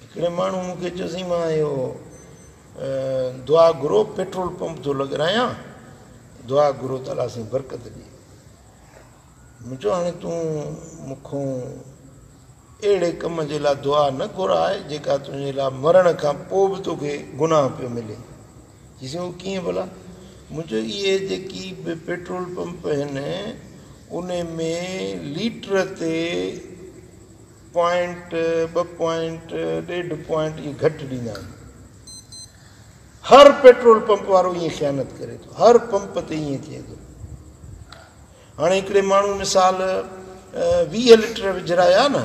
هڪڙي ماڻهو مون کي چيو سائين مان اهو دعا گهرو پيٽرول پمپ ٿو لڳرايان دعا گهرو ته الله سائين برڪت ڏي مون چيو هاڻي تون مون کان اهڙي ڪم جي لاء دعا نه گهراء جيڪا تنهنجي لاء مرڻ کان پوء به توکي گناهه پيو ملي چيسين اهو ڪيئن ڀلا؟ مون چيو اهي جيڪي به پيٽرول پمپ هن انهي ۾ ليٽر تي پوائنٽ ٻه پوائنٽ ڏيڍ پوائنٽ اهي گهٽ ڏيندا آهن. هر پيٽرول پمپ وارو ايئن خيانت ڪري ٿو. هر پمپ تي ايئن ٿئي ٿو. هاڻي هڪڙي ماڻهو مثال ويهه لٽر وجهرايا نه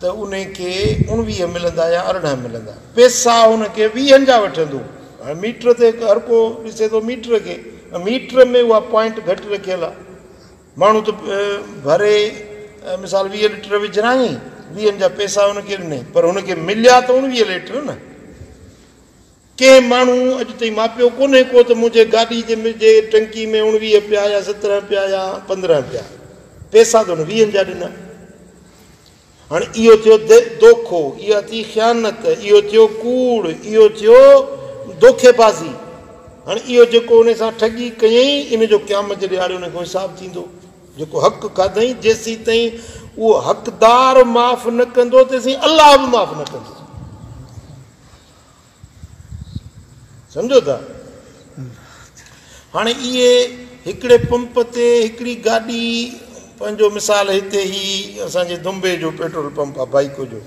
ته ان کي اڻويهه ملندا يا ارڙهن ملندا. پيسا هن کي ويهن جا وٺندو. هاڻي ميٽر تي هر ڪو ڏسي ٿو ميٽر کي. ميٽر ۾ اها پوائنٽ گهٽ رکيل آ. ماڻهو ته ڀري مثال ويهه لٽر وجهرايائين، ويهن جا پيسا هن کي ڏنائين پر هن کي مليا ته اڻويهه لٽر نه. ڪنهن ماڻهو اڄ تائين ماپيو ڪونهي ڪو ته منهنجي گاڏي جي ٽنڪي ۾ اوڻويهه پيا يا سترهن پيا يا پندرهن پيا. پيسا ته هن ويهن جا ڏنا. هاڻي اهو ٿيو دوکو، اها ٿي خيانت، اهو ٿيو ڪوڙ، اهو ٿيو دوکي بازي. هاڻي اهو جيڪو ان سان ٺڳي ڪيئي ان جو قيامت جي ڏهاڙي ان کان حساب ٿيندو. جيڪو حق کاڌئي جيسيتائين اهو حقدار معاف نه ڪندو تيسين الله به معاف نه ڪندو. سمجهو ٿا؟ هاڻي اهي هڪڙي پمپ تي هڪڙي گاڏي پنهنجو مثال هتي هي اسان جي دنبي جو پيٽرول پمپ آهي بائيڪو جو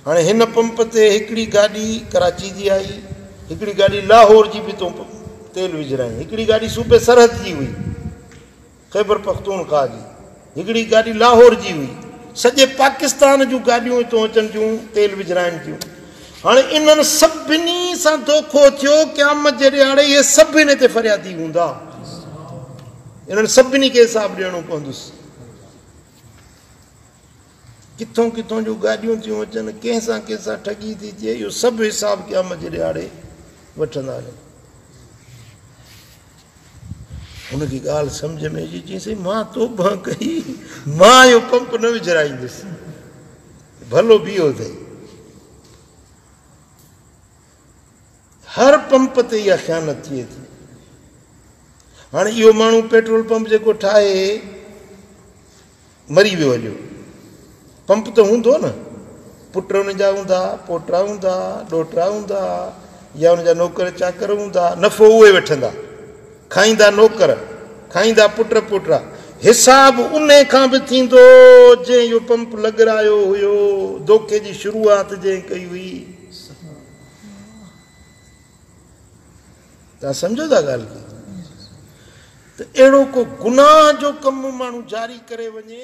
هاڻي هن پمپ تي هڪڙي گاڏي ڪراچي جي آئي هڪڙي گاڏي لاهور جي به تون تيل وجهرائين هڪڙي گاڏي صوبي سرحد جي هئي خيبر پختونخواهه جي هڪڙي گاڏي لاهور جي هئي سڄي پاڪستان جون گاڏيون اتون اچن ٿيون تيل وجھرائن ٿيون هاڻي انهن سڀني سان دوکو ٿيو قيامت جي ڏهاڙي اهي سڀ هن تي فريادي هوندا انهن سڀني کي حساب ڏيڻو پوندس ڪٿون ڪٿون جو گاڏيون ٿيون اچن ڪنهن سان ڪنهن سان ٺڳي ٿي ٿئي اهو سڀ حساب قيامت جي ڏهاڙي وٺندا هن هن کي ڳالهه سمجهه ۾ اچي چيائين سائين مان توبه ڪئي مان اهو پمپ نه وجهرائيندس ڀلو بيهو اٿئي هر پمپ تي اها خيانت ٿئي ٿي هاڻي اهو ماڻهو پيٽرول پمپ جيڪو ٺاهي مري ويو اڄ پمپ ته هوندو نه پٽ ان جا هوندا پوٽا هوندا ڏوهٽا هوندا يا ان جا نوڪر چاڪر هوندا نفعو اهي وٺندا کائيندا نوڪر کائيندا پٽ پوٽا حساب انهي کان به ٿيندو جنهن اهو پمپ لڳرايو هيو دوکي جي شروعات جنهن ڪئي هئي. توهان سمجهو ٿا ڳالهه ڪي ته اهڙو ڪو گناهه جو ڪم ماڻهو جاري ڪري وڃي.